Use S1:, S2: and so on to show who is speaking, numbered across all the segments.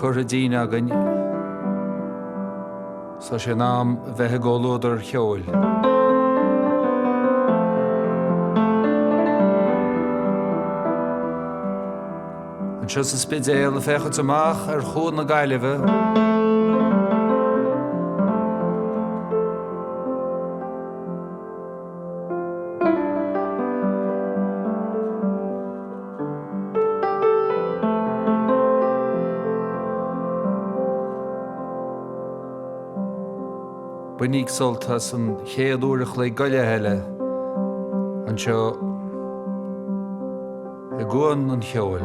S1: curtha dínn againn, so sin am bheith i gcomhluadar cheoil. Anseo sa Spidéal ag féachaint amach ar Chuan na Gaillimhe. Bainigí sult as an chéad uair an chloig go leith eile anseo i gCuan an Cheoil.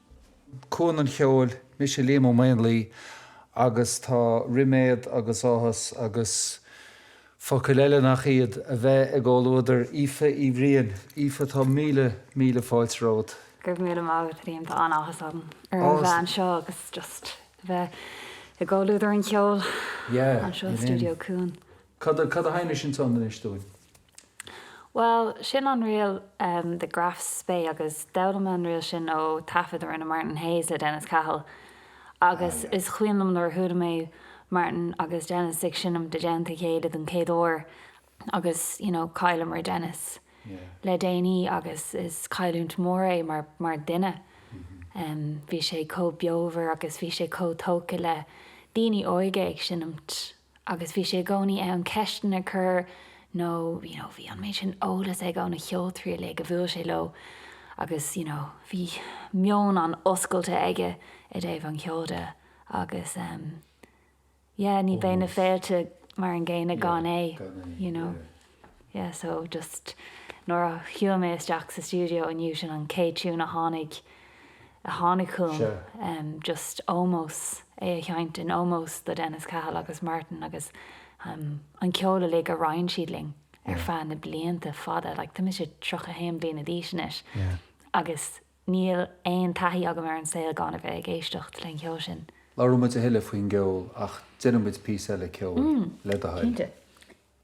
S1: Cuan an Cheoil, mise Liam Ó Maonlaí agus tá riméad agus áthas agus focail eile nach iad a bheith i gcomhluadar Aoife Ní Bhriain. Aoife tá míle míle fáilte romhat. Go raibh míle maith agat a Liam, tá an-áthas orm a bheith anseo agus just a bheith i gcomhluadar an cheoil anseo i Studio Cuan. Cad a sheinn tú ansin anois dúinn? Bhuel, sin an ríl The Graf Spee agus d'fhoghlaim mé an ríl sin ó taifead a rinne Martin Hayes le Dennis Cahill agus is cuimhin liom nuair a chuala mé Martin agus Dennis ag seinimt i dteannta a chéile don chéad uair agus you know chailleamar Dennis le déanaí agus is cailliúint mór é mar mar duine. Bhí sé chomh beomhar agus bhí sé chomh tógtha le daoine óga ag seinimt. Agus bhí sé i gcónaí in ann ceisteanna a chur nó you know bhí an méid sin eolas aige ó na cheoltoirí uilig a bhuail sé leo agus you know bhí meon an-oscailte aige i dtaobh an cheoil de agus em yeah ní bheidh na féilte mar an gcéanna gan é you know. Yeah so just nuair a shiúil mé isteach sa stiúideo inniu sin an chéad tiún a tháinig a tháinig chugam Sure. just ómós é a sheint in ómós do Dennis Cahill agus Martin agus um an ceol uilig a roinn siad linn ar feadh na blianta fada like tá mise 31 bliana d'aois anois Yeah. agus níl aon taithí agam ar an saol gan a bheith ag éisteacht le an cheol sin. Labhróimid a thuilleadh faoin gceol ach déanfaimid píosa eile ceoil le do thoil. Cinnte.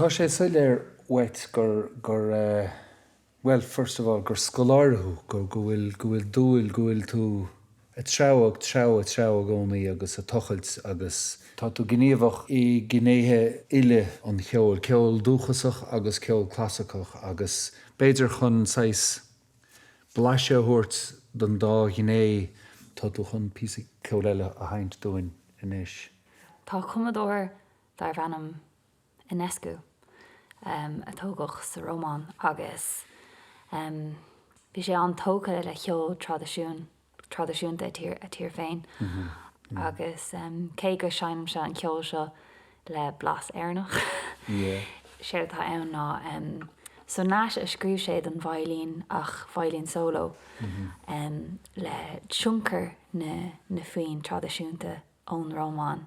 S1: Tá sé soiléir uait gur, gur eh, bhuel, first of all, gur scoláire thú, go, go bhfuil, go bhfuil dúil, go bhfuil tú, a threabhadh, treabhadh, a threabhadh i gcónaí agus ag tochailt agus. tá tú gníomhach i gnéithe uile an cheoil, ceol dúchasach agus ceol clasaiceach agus b'fhéidir chun saghas blaiseadh a thabhairt don dá ghné tá tú chun píosa ceoil eile a sheinnt dúinn anois. Tá cumadóir darb ainm. Enescu, a tógadh sa Rómáin agus bhí sé an-tógtha le ceol traidisiúnta a tír féin agus cé go seinnimse an ceol seo le blas Éireannach, séard atá ann ná sonáid a scríobh sé don veidhlín ach veidhlín solo le tionchar na foinn traidisiúnta ón Rómáin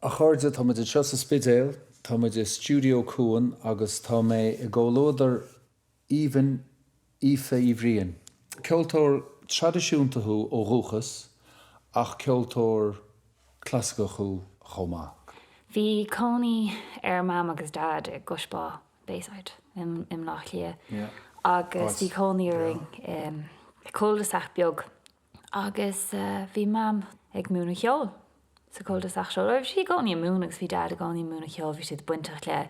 S1: A chairde, tá muid anseo sa Spidéal, tá muid i Stiúideo Cuan agus tá mé i gcomhluadar Aoibhinn Aoife Ní Bhriain, ceoltóir traidisiúnta thú ó dhúchas ach ceoltóir clasaiceach thú chomh maith. Bhí cónaí ar Mam agus Dad i gCois Bá, Bayside, i mBleá Cliath agus bhí cónaí orainn i cul de sac beag agus bhí Mam ag múineadh cheoil sa cul de sac seo, bhí sí i gcónaí ag múineadh agus bhí Dad i gcónaí ag múineadh cheoil, bhí siad bainteach le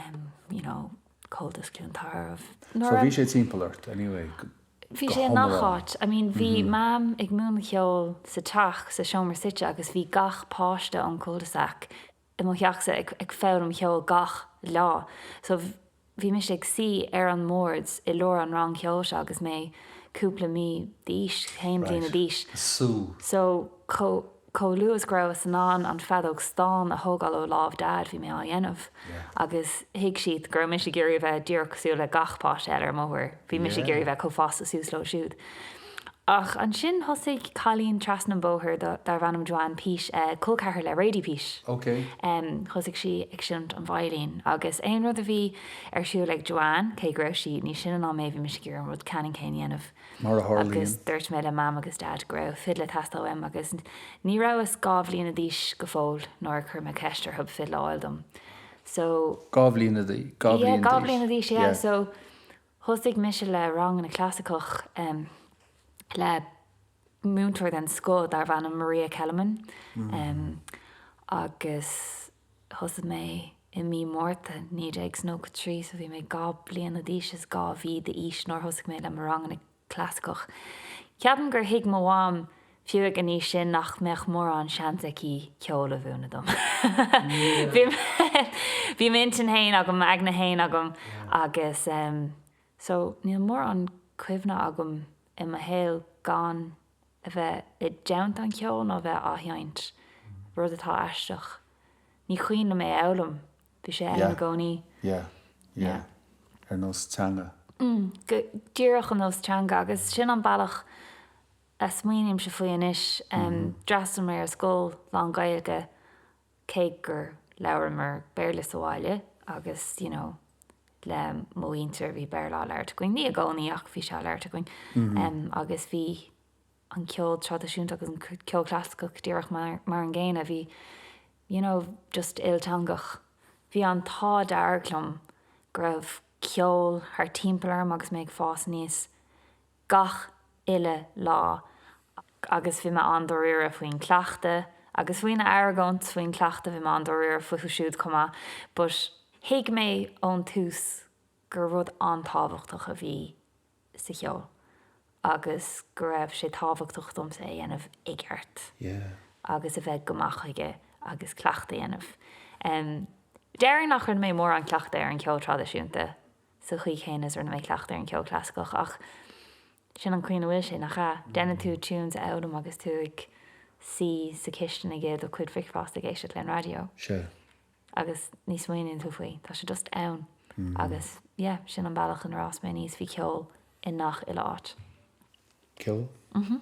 S1: em you know Comhaltas Cluain Tarbh nuair a. So bhí sé timpeall ort anyway go hiomlán? Bhí sé i ngach áit, I mean bhí Mam ag múineadh cheoil sa teach, sa seomra suite agus bhí gach páiste ón cul de sac i mo theachsa ag ag foghlaim cheoil gach lá so bhí mise ag suí ar an mbord i lár an rang cheoil seo agus mé cúpla mí d'aois, haon bhliana Right. d'aois So, so chomh chomh luath is go rabhas in ann an feadóg stáin a thógáil ó lámh Dad bhí mé á dhéanamh Yeah. agus thuig siad go raibh mise ag iarraidh a bheith díreach cosúil le gach páiste eile ar an mbóthar, bhí mise ag Yeah. iarraidh a bheith chomh fásta suas leo siúd. Ach ansin thosaigh cailín trasna an bhóthair darbh ainm Joanne Peat, col ceathar le Radie Peat, thosaigh sí ag seinnt an veidhlín agus aon rud a bhí ar siúl ag Joanne, cé go raibh sí níos sine ná mé, bhí mise ag iarraidh an rud ceannann céanna a dhéanamh. Mar a tharlaíonn. Agus dúirt mé le Mam agus Dad go raibh fidil ag teastáil uaim agus ní rabhas dhá bhliana d'aois go fóill nuair a chuir mé ceist orthub fidil a fháil dom. So. Dhá bhliana d'aois. Yeah, dhá bhliana d'aois, yeah. So, Thosaigh mise le ranganna clasaiceach le múinteoir den scoth darbh ainm Maria Kelemen agus thosaigh mé i mí Márta 1993 so bhí mé dhá bliana d'aois is dhá mhí d'aois nuair a thosaigh mé le mo ranganna clasaiceach. Ceapaim gur thuig mo mham fiú ag an aois sin nach mbeadh mórán seans aici ceol a mhúineadh dom. Bhí m'intinn fhéin agam, m'aigne fhéin agam agus so níl mórán cuimhne agam i mo shaol gan a bheith i dteannta an cheoil nó a bheith á sheinnt, rud atá aisteach. Ní cuimhin liom é a fhoghlaim, bhí sé ann i gcónaí. Yeah, yeah, yeah. Ar nós teanga. Mm, go díreach ar nós teanga agus sin an bealach a smaoinímse faoi anois. D'fhreastail mé ar scoil lán-Ghaeilge cé gur labhramar Béarla sa bhaile agus you know le mo mhuintir bhí Béarla á labhairt againn, ní i gcónaí ach bhí sé á labhairt againn em agus bhí an ceol traidisiúnta agus an ceol clasaiceach díreach mar mar an gcéanna, bhí you know just ilteangach. Bhí an t-ádh dearg liom go raibh ceol thart timpeall orm agus mé ag fás aníos gach uile lá agus bhí mé an-dáiríre faoin cleachtadh agus faoin argóint faoin cleachtadh, bhí mé an-dáiríre fúthu siúd chomh maith but thuig mé ón tús gur rud an-tábhachtach a bhí sa cheol agus go raibh sé tábhachtach domsa é a dhéanamh i gceart agus a bheith go maith chuige agus cleachtadh a dhéanamh. Déarfainn nach rinne mé mórán cleachtaidh ar an cheol traidisiúnta. sa chaoi chéanna is rinne mé cleachtadh ar an cheol clasaiceach ach sin an chaoi ina bhfuil sé, nach ea? Déanann tú tunes a fhoghlaim agus tú ag suí sa chistin ag ithe do chuid bricfeasta ag éisteacht leis an raidió. Sea. Agus ní smaoiníonn tú faoi, tá sé just ann. Agus yeah, sin an bealach inar fhás mé aníos, bhí ceol i ngach uile áit. Ceol? Mhm.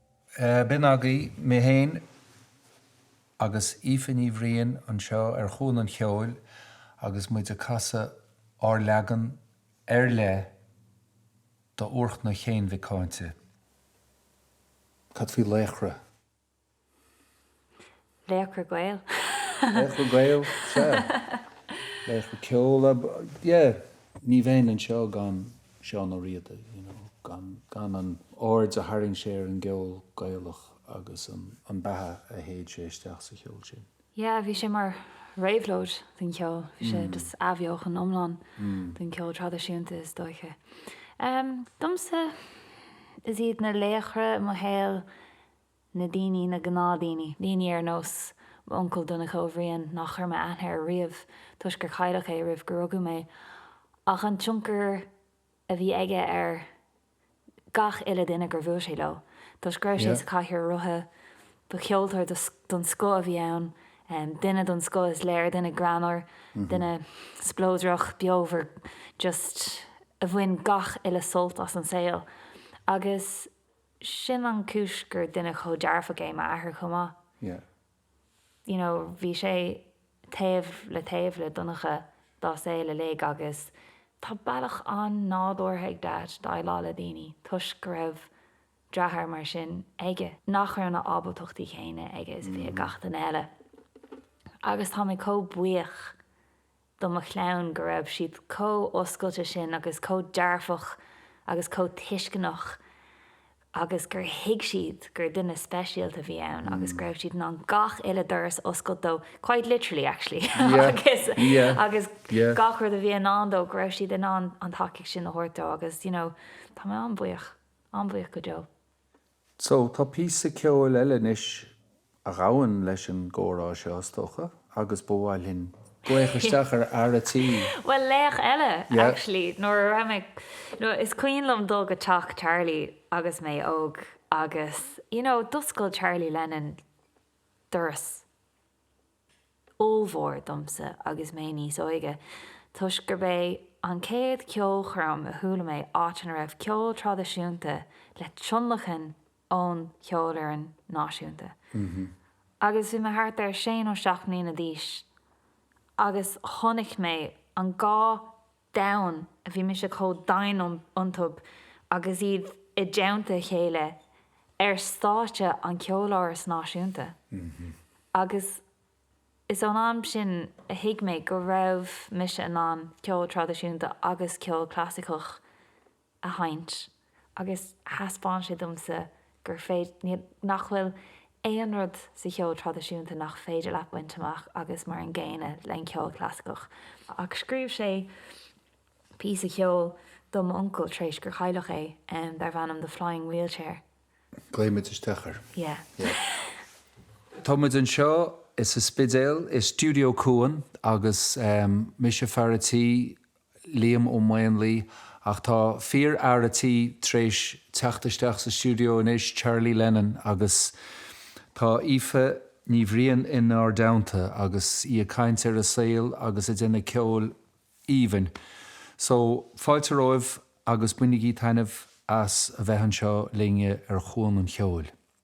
S1: B'in agaibh mé fhéin agus Aoife Ní Bhriain anseo ar Chuan an Cheoil agus muid ag casadh ár leagan ar leith do Úrchnoc Chéin Mhic Cáinte. Cad faoi laochra? Laochra Gael. Laochra Gael, sea. Laochra ceoil, yeah. Ní bheinn anseo gan Seán Ó Riada, you know, gan an aird a tharraing sé ar an gceol Gaelach agus an beatha a shéid sé isteach sa cheol sin. Yeah, bhí sé mar réabhlóid don cheol, bhí sé just athbheochan iomlán don cheol traidisiúnta is dóiche. Domsa, is iad na laochra i mo shaol na daoine, na gnáthdaoine, daoine ar nós m'uncail Donncha Ó Bhriain nach chuir mé aithne air riamh toisc gur cailleadh é roimh gur rugadh mé, ach an tionchar a bhí aige ar gach uile duine gur bhuail sé leo toisc go raibh sé sa chathaoir rotha. Ba cheoltóir den scoth a bhí ann, duine den scoth is léir, duine greannmhar, duine spleodrach, beomhar, just a bhain gach uile sult as an saol agus, sin an chúis gur duine chomh dearfach é m'athair chomh maith. Yeah. You know, bhí sé taobh le taobh le Donncha dá saol uilig agus tá bealach an-nádúrtha ag Dad déileáil le daoine toisc go raibh deartháir mar sin aige, nach raibh na ábaltachtaí céanna aige is a bhí ag gach duine eile agus tá mé chomh buíoch do mo chlann go raibh siad chomh oscailte sin agus chomh dearfach agus chomh tuisceanach agus gur thuig siad gur duine speisialta a bhí ann agus go raibh siad in ann gach uile doras a oscailt dó, quite literally actually, agus agus gach rud a bhí i ndán dó go raibh siad in ann an tacaíocht sin a thabhairt dó agus you know tá mé an-bhuíoch, an-bhuíoch go deo. So, tá píosa ceoil eile anois a ghabhann leis an gcomhrá seo, is dócha, agus ba mhaith linn glaoch isteach ar fhear a' tí. Bhuel, laoch eile, actually, nuair a bhí mé ag, nó is cuimhin liom dul go teach Charlie agus mé óg agus, you know, d'oscail Charlie Lennon doras. ollmhór domsa agus mé níos óige toisc gurb é an chéad cheolchoirm a chuala mé áit ina raibh ceol traidisiúnta le tionlacan ón Cheolfhoireann Náisiúnta agus bhí mé thart ar sé nó seacht mbliana d'aois agus chonaic mé an dá domhan a bhí mise chomh domhain iontu agus iad i dteannta a chéile ar stáitse an Ceoláras Náisiúnta agus is ón am sin a thuig mé go raibh mise in ann ceol traidisiúnta agus ceol clasaiceach a sheinnt agus thaispeáin sé domsa gur féidir, nach bhfuil aon rud sa cheol traidisiúnta nach féidir leat baint amach agus mar an gcéanna leis an gceol clasaiceach. Ach scríobh sé píosa ceoil do m'uncail tar éis gur cailleadh é, darb ainm The Flying Wheelchair. Glaoigh muid isteach air. Yeah. Tá muid anseo sa Spidéal i Studio Cuan agus mise fear a tí Liam Ó Maonlaí, ach tá fíor fhear a' tí tar éis teacht isteach sa stiúideo anois, Charlie Lennon, agus tá Aoife Ní Bhriain inár dteannta agus í ag caint ar a saol agus ag déanamh ceoil aoibhinn. So, fáilte romhaibh agus bainigí taitneamh as a bheith anseo linn ar Chuan an Cheoil.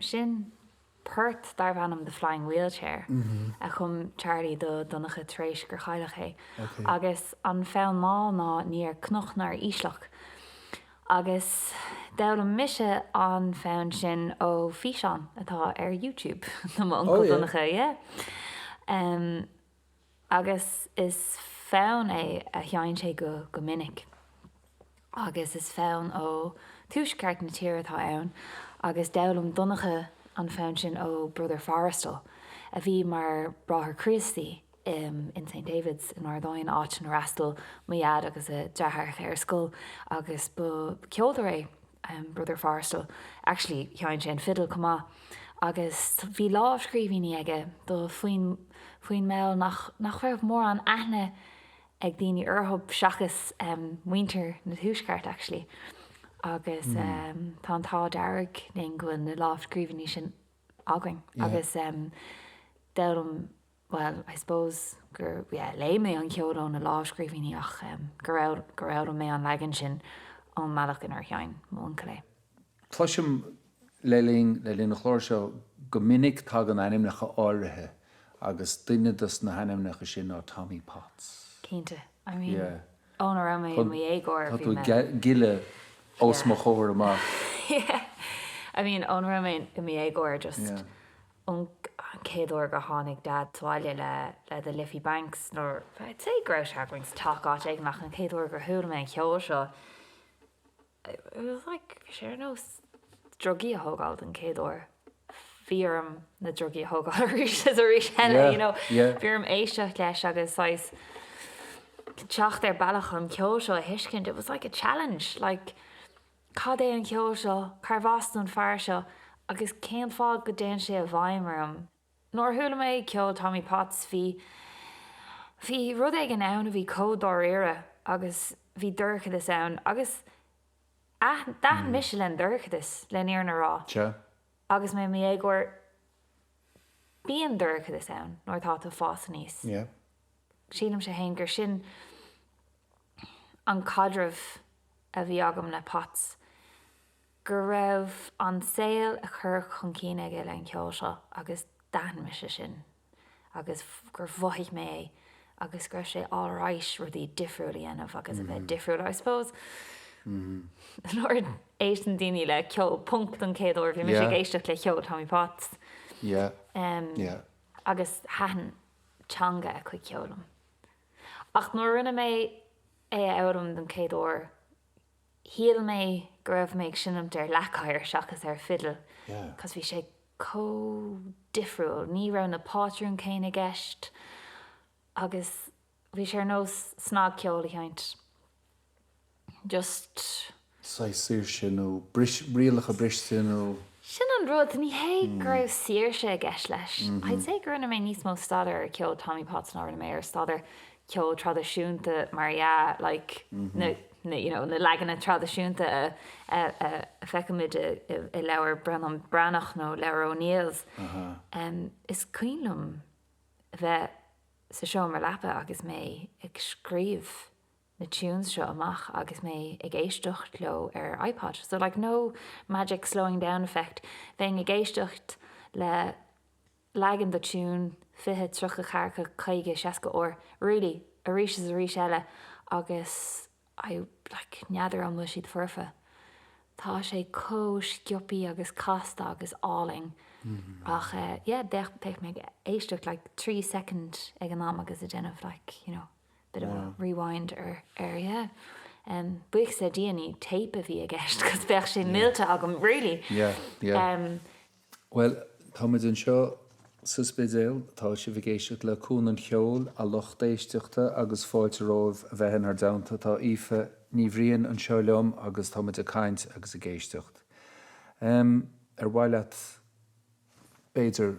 S1: Sin port darbh ainm The Flying Wheelchair a chum Charlie do Dhonncha tar éis gur chailleadh é. Agus an fonn mall ná Ní ar Chnoc ná ar Ísleacht. Agus d'fhoghlaim mise an fonn sin ó físeán atá ar YouTube do mo uncail Donncha, yeah. Agus is fonn é a sheinn sé go minic. Agus is fonn ó tuaisceart na tíre atá ann agus d'fhoghlaim Donncha an fonn sin ó Brother Forristal, a bhí mar Bráthair Críostaí em in St Davids in Ard Aidhin, áit inar fhreastail mo Dhaid agus a deartháireacha ar scoil agus ba cheoltóir é em Brother Forristal, actually sheinn sé an fiddle chomh maith agus bhí lámhscríbhínní aige do foinn, foinn mall nach, nach raibh mórán aithne ag daoine orthu seachas em muintir na Tuaisceart actually agus em tá an t-ádh dearg linn go bhfuil na lámhscríbhinní sin againn agus em d'fhoghlaim, bhuel, I suppose gur, yeah, léigh mé an ceol ó na lámhscríbhínní ach em go raibh, ghoid mé an leagan sin ón mbealach inar sheinn m'uncail é. Cloisim le linn, le linn an chláir seo go minic tagann ainmneacha áirithe agus duine dos na hainmneacha sin ná Tommy Potts. Cinnte. I mean, yeah. ó na raibh mé i mo dhéagóir bhí mé. Tá tú ag gileadh os mo chomhair amach. Yeah. I mean, ó na raibh mé i mo dhéagóir just. Yeah. Ón chéad uair gur tháinig Dad abhaile le The Liffey Banks, nuair I'd say go raibh sé ag Willie Clancy nó áit éigin ach an chéad uair gur chuala mé an cheol seo it was like bhí sé ar nós drugaí a thógáil don chéad uair. Bhí orm na drugaí a thógáil arís is arís eile yeah, you know. yeah. Bhí orm éisteacht leis agus saghas teacht ar bealach an ceol seo a thuiscint it was like a challenge like Cad é an ceol seo? Cárbh as don fear seo agus cén fáth go dtéann sé i bhfeidhm orm? Nuair a chuala mé ceol Tommy Potts bhí, bhí rud éigin ann a bhí chomh dáiríre agus bhí dorchadas ann agus aithin, d'aithin mise leis an dorchadas, leis an fhírinne a rá. Sea. Agus mé i mo dhéagóir, bíonn dorchadas ann nuair atá tú ag fás aníos. Yeah. Sílimse fhéin gur sin. an caidreamh a bhí agam le Potts, go raibh an saol a chur chun cinn aige le an ceol seo agus d'aithin mise sin agus gur mhothaigh mé é agus go raibh sé alright rudaí difriúil a dhéanamh agus a bheith difriúil I suppose nuair a éisteann daoine le ceol punk don chéad uair bhí mise ag éisteacht le cheol Tommy Potts agus thaitin teanga a chuid ceoil liom. ach nuair a rinne mé é a fhoghlaim don chéad uair shíl mé go raibh mé ag seinimt ar leac oighir seachas ar fidil cos bhí sé chomh difriúil, ní raibh na pátrún céanna i gceist agus bhí sé ar nós snagcheol a sheinnt. just. saghas saoirse nó rialacha briste nó. Sin an rud, ní hé go raibh saoirse i gceist leis. I'd say go rinne mé níos mó staidéar ar cheol Tommy Potts ná rinne mé ar staidéar ceol traidisiúnta mar dhea, like na, na, you know, na leaganacha traidisiúnta a, a, a feicimid i leabhair Breandán Breathnach nó leabhair O'Neill's. Is cuimhin liom bheith sa seomra leapa agus mé ag scríobh na tunes seo amach agus mé ag éisteacht leo ar iPod. So like no magic slowing down effect, bheinn ag éisteacht le leagan do tune fiche, tríocha, ceathracha, caoga, seasca uair, really, arís is arís eile agus I like n'fheadar an bhfuil siad foirfe. Tá sé chomh sciobtha agus casta agus álainn ach yeah, bheadh mé ag éisteacht like trí soicind ag an am agus ag déanamh like, you know. bit of a rewind or or yeah buíochas le Dia ní tape a bhí i gceist cos bheadh sé millte agam really yeah yeah well tá muid anseo sa Spidéal, tá sibh ag éisteacht le Cuan an Cheoil a lucht éisteachta agus fáilte romhaibh a bheith inár dteannta tá Aoife Ní Bhriain anseo liom agus tá muid ag caint agus ag éisteacht ar mhaith leat b'fhéidir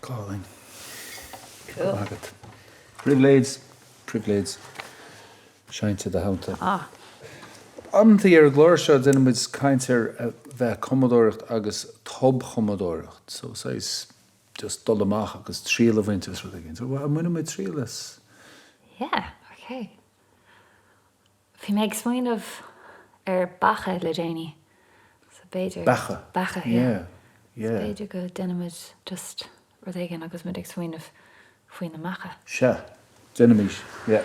S1: Colin. Cool. Agat. Pribhléid, pribhléid seinnte do shaonta. Ah. Amanntaí ar an gclár seo déanann muid caint ar a bheith ag cumadóireacht agus tobchumadóireacht, so saghas just dul amach agus triail a bhaint as rud éigin. So an mbainfidh muid triail as? Yeah, ok. Bhí mé ag smaoineamh ar beacha le déanaí so b'fhéidir. Beacha? Beacha, yeah. Yeah, yeah. B'fhéidir go ndéanfaimid just rud éigin agus muid ag smaoineamh faoi na beacha. Sea, déanfaimid, yeah.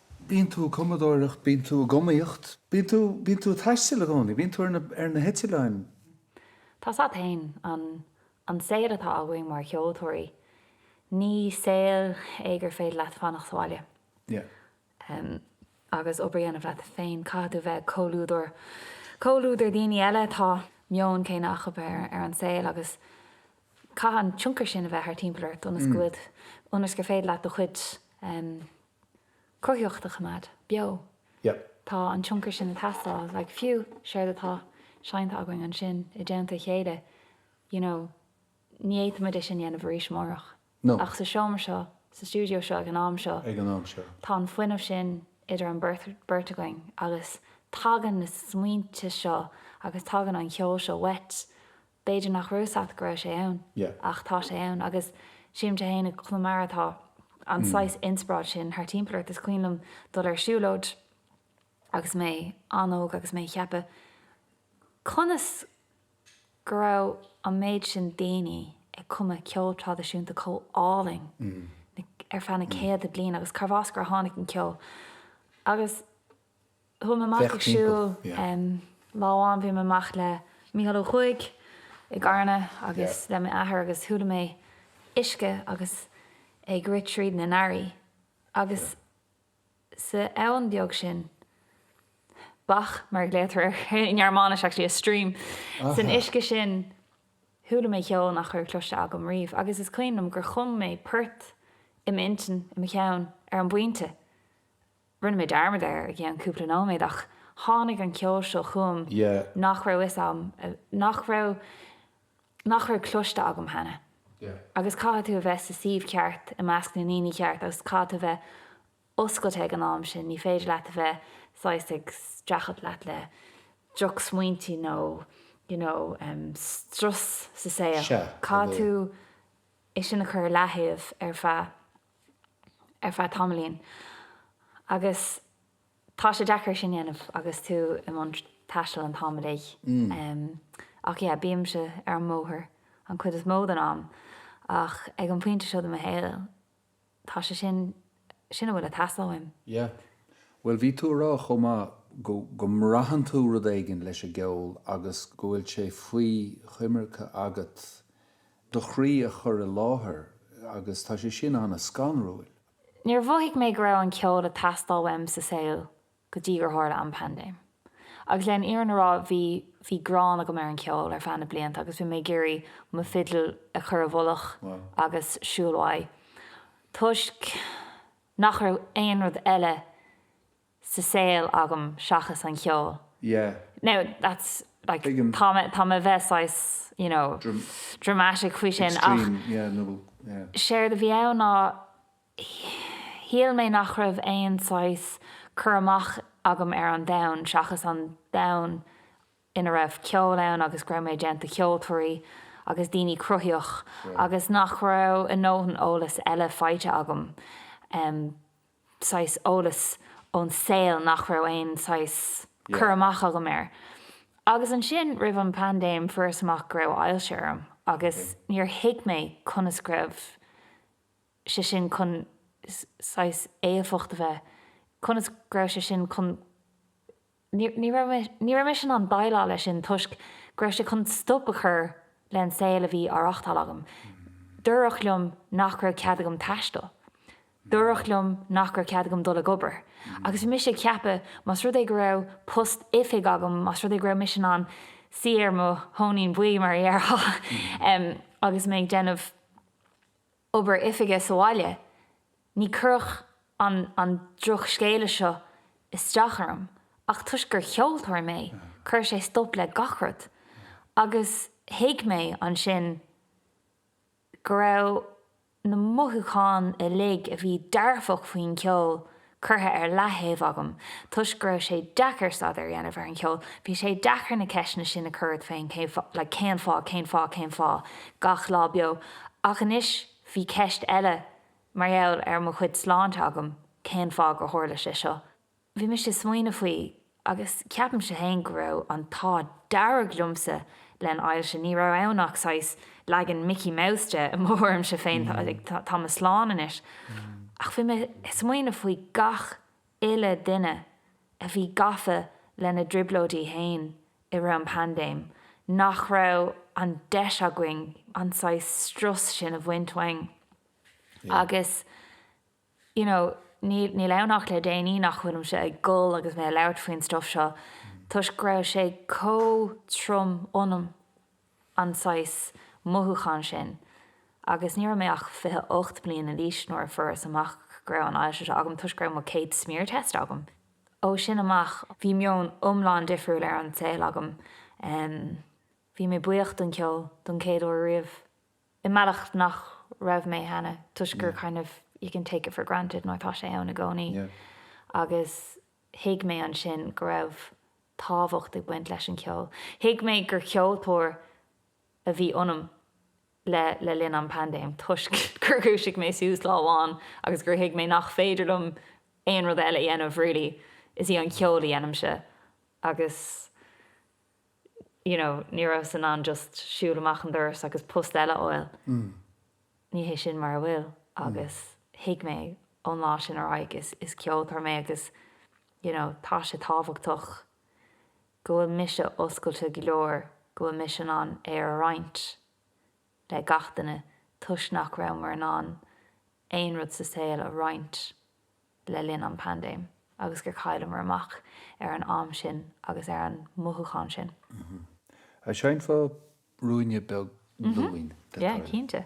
S1: Bíonn tú ag cumadóireacht, bíonn tú ag iomaíocht, bíonn tú, bíonn tú ag taisteal i gcónaí, bíonn tú ar na heitileáin. Tá 's a'd fhéin, an, an saol atá againn mar cheoltóirí, ní saol é gur féidir leat fanacht sa bhaile agus obair a dhéanamh leat féin, caithfidh tú bheith ag comhluadar, comhluadar daoine eile, atá meon céanna acu ar an saol agus caithfidh an tionchar sin a bheith thar timpeall ort ionas go bhfuil, ionas gur féidir leat do chuid. cruthaitheacht a choimeád beo. Yep. Tá an tionchar sin ag teastáil, like fiú séard atá seinnte againn ansin i dteannta a chéile, you know, ní fhéadfaimid é sin a dhéanamh arís amárach. No. Ach sa seomra seo, sa stiúideo seo ag an am seo, Ag an am seo. tá an fuinneamh sin idir an beirt againn agus tagann na smaointe seo agus tagann an ceol seo uait B'fhéidir nach raibh a fhios a'd go raibh sé ann, ach tá sé ann agus sílimse fhéin i gConamara tá an saghas inspioráid sin thar timpeall ort. Is cuimhin liom dul ar siúlóid agus mé an-óg agus mé ag ceapadh conas go raibh an méid sin daoine ag cumadh ceol traidisiúnta chomh álainn ar feadh na céadta bliain agus cárbh as gur tháinig an ceol agus Chuaigh mé amach ag siúl lá amháin, bhí mé amach le Mícheál Ó Cuaig i gCarna agus le m'athair agus chuala mé uisce agus é ag rith trí na ngarraí agus sa abhainn beag sin, bach mar a glaoitear air i nGearmáinis actually, a stream, san uisce sin chuala mé ceol nach raibh cloiste agam riamh agus is cuimhin liom gur chum mé port i m'intinn, i mo cheann, ar an bpointe. Rinne mé dearmad air i gceann cúpla nóiméad ach tháinig an ceol seo chugam nach raibh a fhios agam, nach raibh, nach raibh cloiste agam cheana. Agus caithfidh tú a bheith sa suíomh ceart, i measc na ndaoine ceart agus caithfidh tú a bheith oscailte ag an am sin, ní féidir leat a bheith saghas ag streachailt leat le drochsmaointe nó you know strus sa saol, caithfidh tú é sin a chur i leataobh ar feadh. ar feadh tamaillín agus tá sé deacair sin dhéanamh agus tú i mbun taistil an t-am uilig. Ach yeah, bímse ar an mbóthar an chuid is mó den am ach ag an phointe seo de mo shaol tá sé sin, sin a bhfuil ag teastáil uaim. Yeah. Bhuel bhí tú ag rá chomh maith go, go mbraitheann tú rud éigin leis an gceol agus go bhfuil sé faoi choimirce agat do chroí a chur i láthair agus tá sé sin an-scanrúil. Níor mhothaigh mé go raibh an ceol ag teastáil uaim sa saol go dtí gur tharla an paindéim. Agus leis an fhírinne a rá bhí bhí gráin agam ar an ceol ar feadh na blianta agus bhí mé ag iarraidh mo fidil a chur i bhfolach agus siúl uaidh toisc nach raibh aon rud eile sa saol agam seachas an cheol. yeah now that's like tuigim tá mé tá mé bheith saghas you know dr dramatic faoi sin ach extreme yeah nó yeah séard a bhí ann ná shíl mé nach raibh aon saghas cur amach agam ar an domhan seachas an domhan ina raibh ceol ann agus go raibh mé i dteannta ceoltóirí agus daoine cruthaitheach yeah agus nach raibh a dhóthain eolas eile faighte agam em saghas eolas ón saol nach raibh aon saghas cur amach agam air. Agus ansin, roimh an paindéim, fuaireas amach go raibh ailse orm agus níor thuig mé conas go raibh sé sin chun saghas éifeacht a bheith, conas go raibh sé sin chun Ní raibh mise in ann déileáil leis sin toisc go raibh sé chun stop a chur leis an saol a bhí á reachtáil agam. Dúradh liom nach raibh cead agam taisteal. Dúradh liom nach raibh cead agam dul ag obair. Agus bhí mise ag ceapadh, más rud é go raibh post oifig agam, más rud é go raibh mise in ann suí ar mo thóinín buí, mar a dhéarfá, agus mé ag déanamh obair oifige sa bhaile, Ní chuirfeadh an an drochscéala seo isteach orm, ach toisc gur cheoltóir mé, chuir sé stop le gach rud. Agus thuig mé ansin go raibh na mothúcháin uilig a bhí dearfach faoin cheol curtha ar leaththaobh agam toisc go raibh sé deacair staidéar a dhéanamh ar an cheol. Bhí sé deacair na ceisteanna sin a chur ort féin, cén fáth, like cén fáth, cén fáth, cén fáth, gach lá beo. Ach anois bhí ceist eile Mar gheall ar mo chuid sláinte agam, cén fáth gur tharla sé seo? Bhí mise ag smaoineamh faoi agus ceapaimse féin go raibh an t-ádh dearg liomsa leis an ailse, ní raibh ann ach saghas leagan Mickey Mouse de i mo thuairimse féin, tá mé slán anois. Ach bhí mé ag smaoineamh faoi gach uile dhuine a bhí gafa lena dtrioblóidí féin i rith an phaindéim nach raibh an deis againn an saghas strus sin a bhaint uainn agus you know níl níl ann ach le déanaí nach bhfuilimse ag gol agus mé ag labhairt faoin stuff seo toisc go raibh sé chomh trom ionam. an saghas mothúchán sin agus ní raibh mé ach fiche ocht bliana d'aois nuair a fuaireas amach go raibh an ailse so agam toisc go raibh mo céad smear test agam. Ó sin amach bhí meon iomlán difriúil ar an saol agam. Bhí mé buíoch don ceol don chéad uair riamh i mbealach nach raibh mé cheana toisc gur kind of you can take it for granted nó tá sé ann i gcónaí agus Thuig mé ansin go raibh tábhacht ag baint leis an cheol. Thuig mé gur cheoltóir a bhí ionam le le linn an paindéim toisc gur dhúisigh mé suas lá amháin agus gur thuig mé nach féidir liom aon rud eile a dhéanamh really. Is í an ceol a dhéanaimse agus you know, ní rabhas in ann just siúl amach an doras agus post eile a fháil. Ní hé sin mar a bhfuil agus thuig mé ón lá sin ar aghaidh is is ceoltóir mé agus, you know, tá sé tábhachtach go bhfuil mise oscailte go leor, go bhfuil mise in ann é a roinnt le gach duine toisc nach raibh muid in ann aon rud sa saol a roinnt le linn an paindéim agus gur chailleamar amach ar an am sin agus ar an mothúchán sin. An seinnfeá ruainne beag dúinn le do thoil? Cinnte.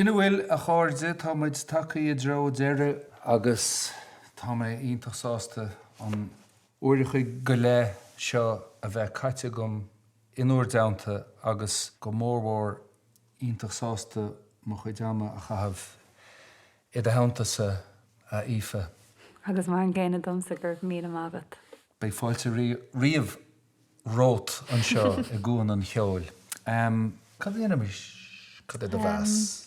S1: Sin a bhfuil, a chairde, tá muid tagtha i dtreo deireadh agus tá mé iontach sásta an. Uair a chloig go leith seo a bheith caite agam in bhur dteannta agus go mór mhór iontach sásta mo chuid ama a chaitheamh i do theannta-sa a Aoife. Agus mar an gcéanna domsa go raibh míle maith agat. Beidh fáilte riamh romhat anseo i gCuan an Cheoil. Cad a dhéanfaimid? Cad é do mheas?